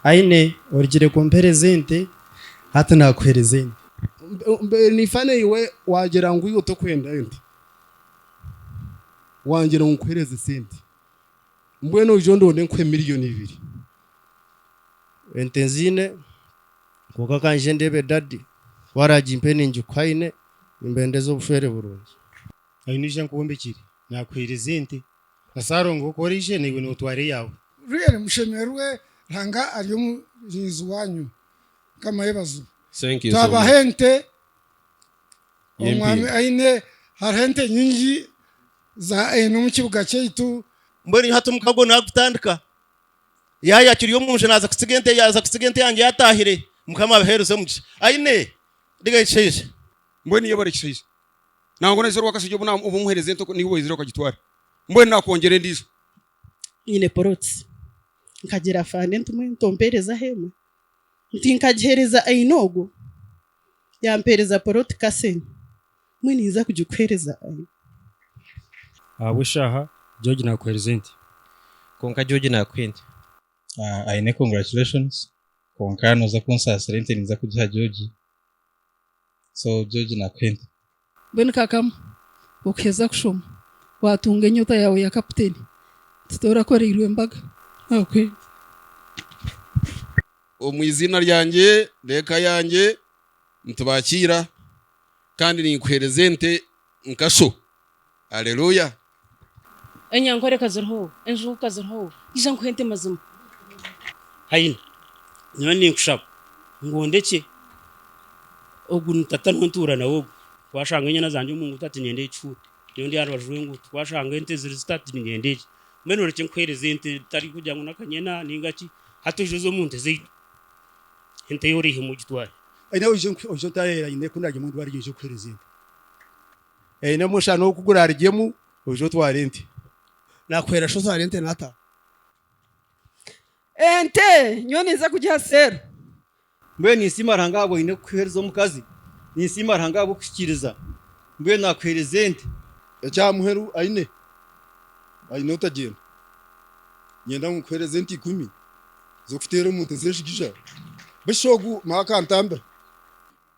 Aine, orugire kumpereza ente, hati nakuhereza ente. Mbeire nifa naiwe wagira ngu iwe tokwenda ente, wangira ngu nkuhereze sente, mbwenu oije ondonde nkuhe miriyoni ibiri. Ente nziine, kwonka kanje ndebe dadi, ku aragimpe ningikuha aine, nimba ndeze obushwere burungi. Aine, oije nkuhe ombekyere, nakuhereza ente. Lazaaro ngu ku oraije naiwe nootwara eyaawe. Reero mushemererwe, Ruhanga ari omurinzi waanyu. Mukama yebazibwe. Twabaha ente, omwami aine, hariho ente nyingi ezi aine omu kibuga kyaitu. Mbwenu iha hati omukago naagutandika. Yaaya akiri omu nju naaza kutsiga ente, yaaza kutsiga ente yangye yaataahire. Mukama abaheereze omugisha. Aine, riga ekishaija. Mbwenu yebare ekishaija. nangwa noyezire owakashaija obu omuhereza ente niiwe oweyezire okagitwara mbwenu nakwongyera endiijo. Nyine poloti nkagira afande nti mbwenu tomperezaho emwe nti nkagihereza aine ogwo yampereza poloti kasene mbwenu ninza kugikuhereza aine. Ahabw'eshaaha George nakuhereza ente. Kwonka George nakuha ente. Aine congratulations kwonka noza kunsasira ente ninza kugiha George. so George nakuhenda. Mbwenu kakama okuheza kushoma watunga enyota yawe ya kaputeni tito orakoreirwe embaga nakuhenda. Omu iziina ryangye n'eka yangye nitubakiira kandi ninkuhereza ente nkasho. Aleluya! Enyankore ka ziriho, enjugu ka ziriho, ija nkuhe ente mazima. Haine, nyowe ninkushaba ngu ondekye ogu ni tata niwe ntuura nawe ogu. Ku ashanga enyana zangye omu nguuto ati nyenda ekifuuha, nyowe ndi aha rubaju rw'enguuto. Ku ashanga ente ziri zita ati ninyenda egi. Mbwenu orekye nkuheereze ente bitari kugira ngu n'akanyena nainga ki. Hati oije oze omu nte zaitu, ente yo oreihemu ogitware. Haine, oije oije otaahe aine ku ndaagyemu ndwariire oije nkuheereze ente. Aine omushana oku gurarugyemu, oije otware ente. Naakuhwera shi otware ente n'ata? Ente nyowe ninza kugiha seero. Mbwenu ninsiima Ruhanga ahabw'obu oine kuheereza omukazi. Ninsiima Ruhanga ahabw'okuhikiiriza. Mbwenu naakuheereza ente. Eky'aha muheru aine, aine otagyenda. Nyenda ngu nkuheereze ente ikumi z'okuteera omu nte z'enshigija. Busha ogu Maaka antambira.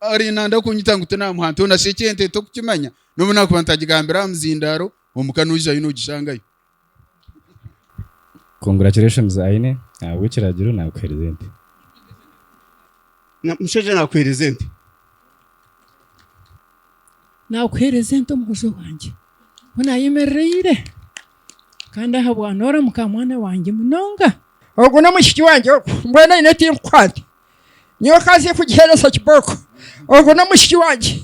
Ari nanda kunyita ngu tinamuha nte ona shi eki ente tokukimanya nobu nakuba ntagigambire aha muzindaro omuka noijayo nogishangayo. Congratulations Aine ahabwekiragiro nakuhereza ente. Mushaija nakuhereza ente. Nakuhereza ente omukazi wangye ku nayemereraire kandi ahabwa noramuka mwana wangye munonga. Ogu nomushiki wangye ogu mbwenu Aine tinkukuha nte. nyowe kanze kugihereza kibooko ogu n'omwishiki wangye.